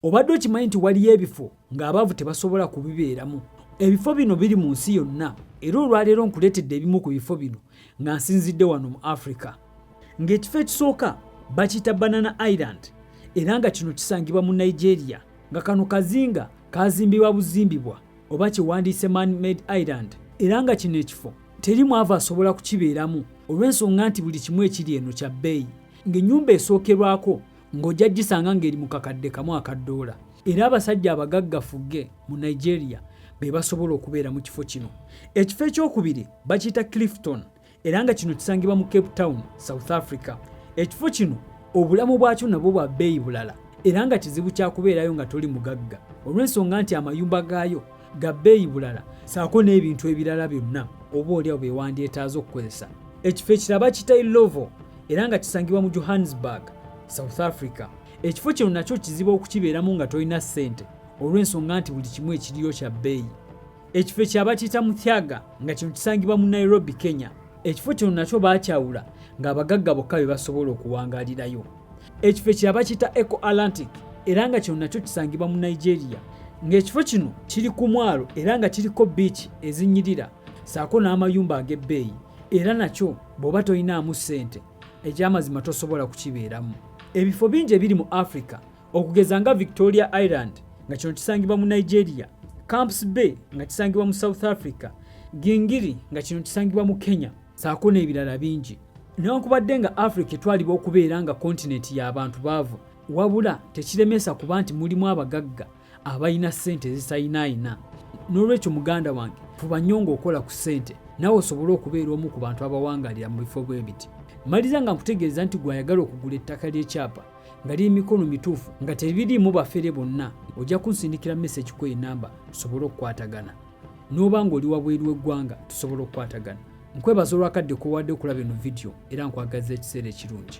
Obadde okimanyi nti waliyo ebifo ng'abaavu tebasobola kubibeeramu? Ebifo bino biri mu nsi yonna era olwaleero nkuleetedde ebimu ku bifo bino nga nsinzidde wano mu Africa. Ng'ekifo ekisooka bakiyita Banana Island era nga kino kisangibwa mu Nigeria nga kano kazinga kaazimbibwa buzimbibwa oba kye wandiise Man Made Island era nga kino ekifo teri mwavu asobola kukibeeramu olw'ensonga nti buli kimu ekiri eno kya bbeeyi ng'ennyumba esookerwako ng'ojja gisanga ng'eri mu kakadde kamu aka ddoola era abasajja abagagga fugge mu nigeria be basobola okubeera mu kifo kino ekifo ekyokubiri bakiyita clifton era nga kino kisangibwa mu cape town south africa ekifo kino obulamu bwakyo nabwo bwa bbeeyi bulala era nga kizibu kyakubeerayo nga toli mugagga olw'ensonga nti amayumba gaayo ga bbeeyi bulala saako n'ebintu ebirala byonna oba olyawo bye wandyetaaze okukozesa ekifo ekiraba kitai lovo era nga kisangibwa mu johannesburg south africa ekifo kino nakyo kizibu okukibeeramu nga tolina ssente olw'ensonga nti buli kimu ekiriyo kya bbeeyi ekifo ekyaba kiyita muthyaga nga kino kisangibwa mu nairobi kenya ekifo kino nakyo baakyawula ng'abagagga bokka be basobola okuwangalirayo ekifo ekirala bakiyita eco atlantic era nga kino nakyo kisangibwa mu nigeria ng'ekifo kino kiri ku mwalo era nga kiriko biiki ezinyirira saako n'amayumba ag'ebbeeyi era nakyo bw'oba tolinaamu ssente ekyamazima tosobola kukibeeramu ebifo bingi ebiri mu africa okugeza nga victoria island nga kino kisangibwa mu nigeria camps bay nga kisangibwa mu south africa gingiri nga kino kisangibwa mu kenya saako n'ebirala bingi newankubadde nga africa etwalibwa okubeera nga kontinenti y'abantu baavu wabula tekiremesa kuba nti mulimu abagagga abalina ssente ezisayinaayina n'olwekyo muganda wange fuba nnyo ng'okola ku ssente nawe osobole okubeera omu ku bantu abawangalira mu bifo bwe biti maliza nga nkutegeeza nti gwayagala okugula ettaka ly'ekyapa nga liri mikono mituufu nga tebiriimu bafere bonna ojja kunsindikira mesegi ku enamba osobole okukwatagana n'oba ng'oli wabweru w'eggwanga tusobola okukwatagana nkwebaza olwakadde kowadde okulaba eno vidiyo era nkwagazza ekiseera ekirungi